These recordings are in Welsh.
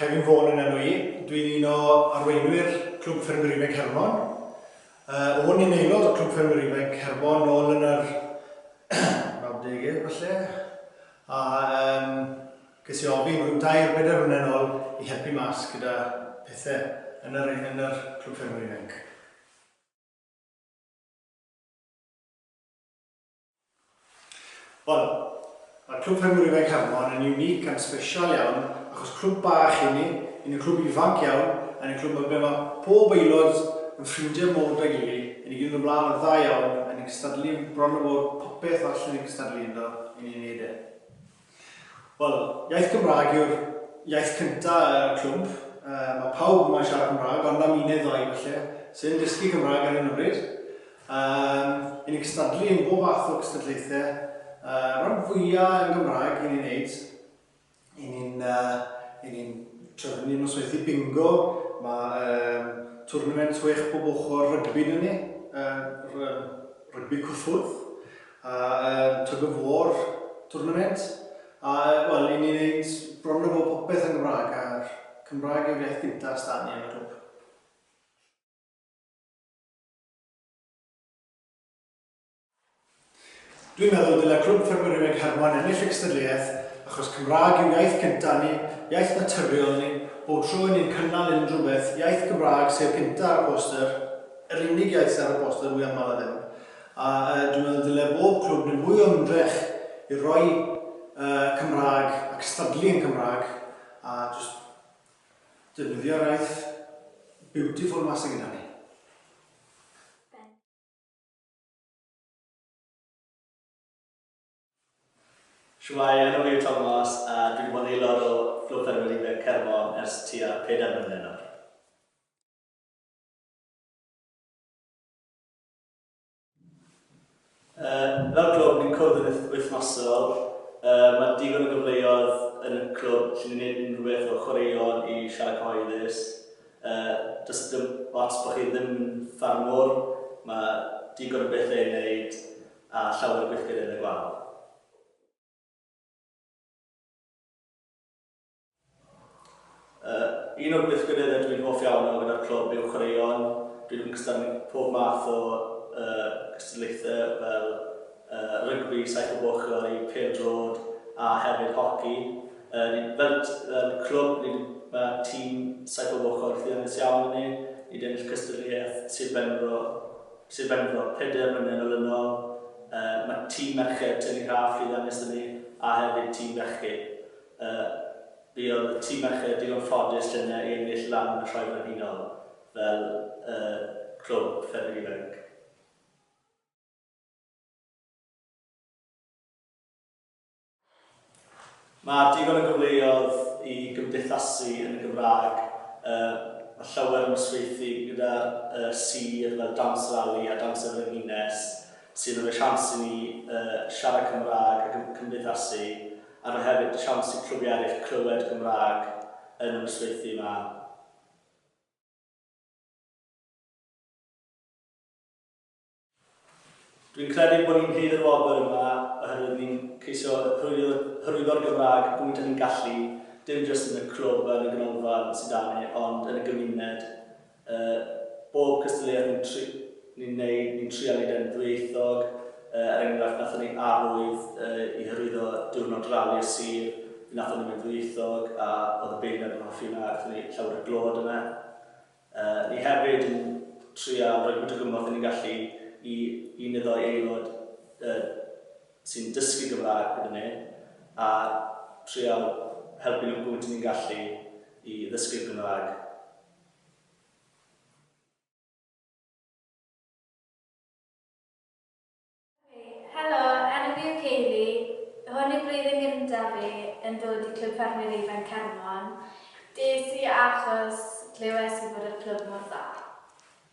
Kevin Vaughan yn enw i. Dwi'n un o arweinwyr Clwb Ffermwyr Ifanc Hermon. Uh, o'n i'n aelod o Clwb Ffermwyr Ifanc Hermon nôl yn yr 90au falle. A um, ges i ofyn rhyw dair bedair mlynedd nôl i helpu mas gyda pethau yn yr, yn yr Clwb Ffermwyr Ifanc. Wel, mae'r Clwb Ffermwyr Ifainc Hermon yn unique and special iawn achos clwb bach i ni, i ni clwb ifanc iawn, a ni'n clwb ble mae pob aelod yn ffrindiau mowr da gili, i ni gyd yn dod mlaen yn dda iawn, a ni'n cystadlu yn bron a bod popeth all i ni gystadlu ynddo, i ni'n neud e. Wel, iaith Gymraeg yw'r iaith cynta y clwmp. Mae pawb yma yn siarad Cymraeg, ond am un neu ddau falle, sydd yn dysgu Cymraeg ar hyn o bryd. Yy, 'y ni'n cystadlu yn bob fath o gystadlaethau, yy, rhan fwya' yn Gymraeg 'y ni'n neud. 'y ni'n yy, 'y ni'n trefnu ni'n nosweithi bingo, ma' yym twrnament chwech bob ochr rygbi 'da ni, yy r- yym rygbi cyffwrdd. A yym tug of war tournament a yy wel i ni neud bron a bod popeth yn Gymraeg a'r Cymraeg yw'r iaith gynta s'da ni yn y clwb. Dwi'n meddwl dyle Clwb Ffermyriaid Hermon ennill y cystadleuaeth achos Cymraeg yw iaith gynta ni, iaith naturiol ni, bob tro i ni'n cynnal unrhyw beth, iaith Gymraeg sydd gynta ar y poster, yr unig iaith sydd ar y poster mwyaf aml a ddim. A dwi'n meddwl dyle bob clwb wneud mwy o ymdrech i roi y Cymraeg a cystadlu yn Cymraeg a jyst defnyddio'r iaith beautiful 'ma sy gyda ni. Shwmae, enw fi yw Tomos a dwi wedi bod yn aelod o Clwb Ffermwyr Ifanc Caernarfon ers tua pedair mlynedd nawr. Uh, fel clwb, ni'n cwrdd yn wythnosol. Uh, mae digon o gyfleoedd yn y clwb lle ni'n gwneud unrhyw beth o chwaraeon i siarad cyhoeddus. Uh, does dim ots bod chi ddim yn ffarmwr, mae digon o bethau i wneud a llawer o gweithgyrraedd yn y gwaith. Uh, un o'r gweithgareddau dwi'n hoff iawn o gyda'r clwb yw chwaraeon. Dwi'n ymgystal pob math o uh, cystadlaethau fel uh, rygbi, saith o boch i pel drod a hefyd hoci. Uh, ni, fel, fel clwb, ni, mae tîm saith o boch o'r llwyddiannus iawn yn ni. Ni wedi ennill cystadleuaeth Sir Benfro, Sir Benfro, peder mlynedd yn ôl. Uh, mae tîm merched Tyni Rhaff llwyddiannus yn ni a hefyd tîm bechgyn. Y buodd y tîm merched digon ffodus yn ennill lan y Sioe Frenhinol fel y clwb ffermydd ifanc. Mae digon o gyfleoedd i gymdeithasu yn y Gymraeg, mae llawer o nosweithdy gyda sir fel Dawns Rali a Dawns y Frenhines sy'n rhoi siawns i ni siarad Cymraeg a cymdeithasu. A mae hefyd siawns i clywiau eraill clywed Gymraeg yn y nosweithiau 'ma. Dwi'n credu bod ni'n rhydd i'r wobr yma oherwydd ni'n ceisio hyrwyddo'r Gymraeg y gwynt a ni'n gallu, dim jyst yn y clwb yn y ganolfan sy 'da ni ond yn y gymuned. Yy, bob cystadleuaeth ni'n tri- ni'n neud, ni'n trial neud e'n ddwyieithog. Yy, er enghraifft, nathon ni arwydd yy i hyrwyddo Diwrnod Rali'r Sir, fe nathon ni fe'n ddwyieithog, a o'dd y beirniad yn hoffi hwnna, gathon ni llawer o glod yna. Yy, ni hefyd yn trial rhoi gwyt o gymorth 'yn ni'n gallu i un neu ddou aelod yy sy'n dysgu Gymraeg gyda ni, a trial helpu nhw gwyt 'yn ni'n gallu i ddysgu'r Gymraeg. Helo, enw fi yw Kayleigh, hwn yw blwyddyn gyntaf fi yn dod i Clwb Ffermwyr Ifanc Caernarfon. Des i achos glywes i bod y clwb mor dda.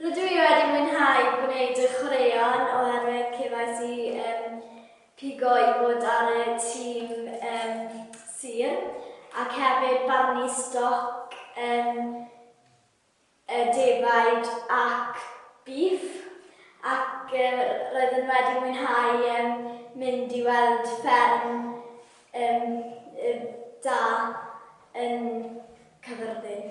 Rydw i wedi mwynhau gwneud y chwaraeon oherwydd cefais i um, pigo i fod ar y tîm um, sir ac hefyd barnu stoc um, y defaid ac bîff ac um, roeddwn wedi mwynhau um, mynd i weld fferm um, da yn Cyfyrddin.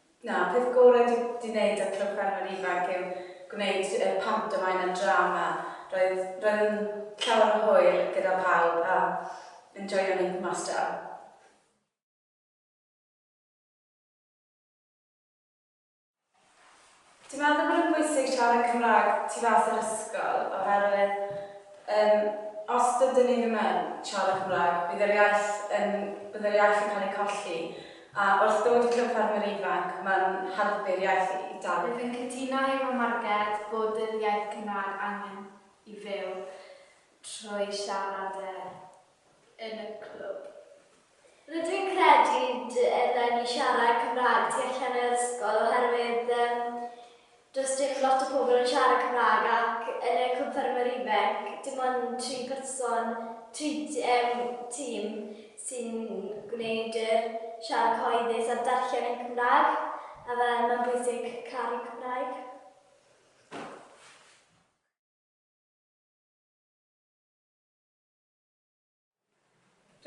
Na, peth gore dwi 'di neud â Clwb Ffermwyr Ifanc yw gwneud y pantomaim a drama. Roedd, roedd yn llawer o hwyl gyda pawb a yn joio mynd mas draw. Dwi'n meddwl bod e'n bwysig siarad Cymraeg tu fas yr ysgol oherwydd yym os dydyn ni ddim yn siarad Cymraeg bydd yr iaith yn... bydd yr iaith yn cael ei colli a wrth ddod i Clwb Ffermwyr Ifanc mae'n helpu'r iaith i dal. Rwyf yn cytuno efo Marged bod yr iaith Cymraeg angen i fyw trwy siarad e. yn y clwb. Rydw i'n credu dy eleni ni siarad Cymraeg tu allan yr ysgol oherwydd yym does dim lot o pobl yn siarad Cymraeg ac yn y Clwb Ffermwyr Ifanc dim ond tri person, tri yym tîm sy'n gwneud yr siarad cyhoeddus a'r darllen yn Cymraeg a fel mae'n bwysig caru Cymraeg.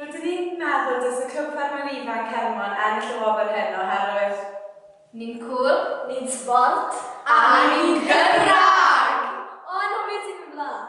Rydyn ni'n meddwl dylse Clwb Ffermwyr Ifanc Hermon ennill y wobr hyn oherwydd Ni'n cŵl, ni'n sbort a ni'n Gymraeg! O, anghofio ti fy mlaen!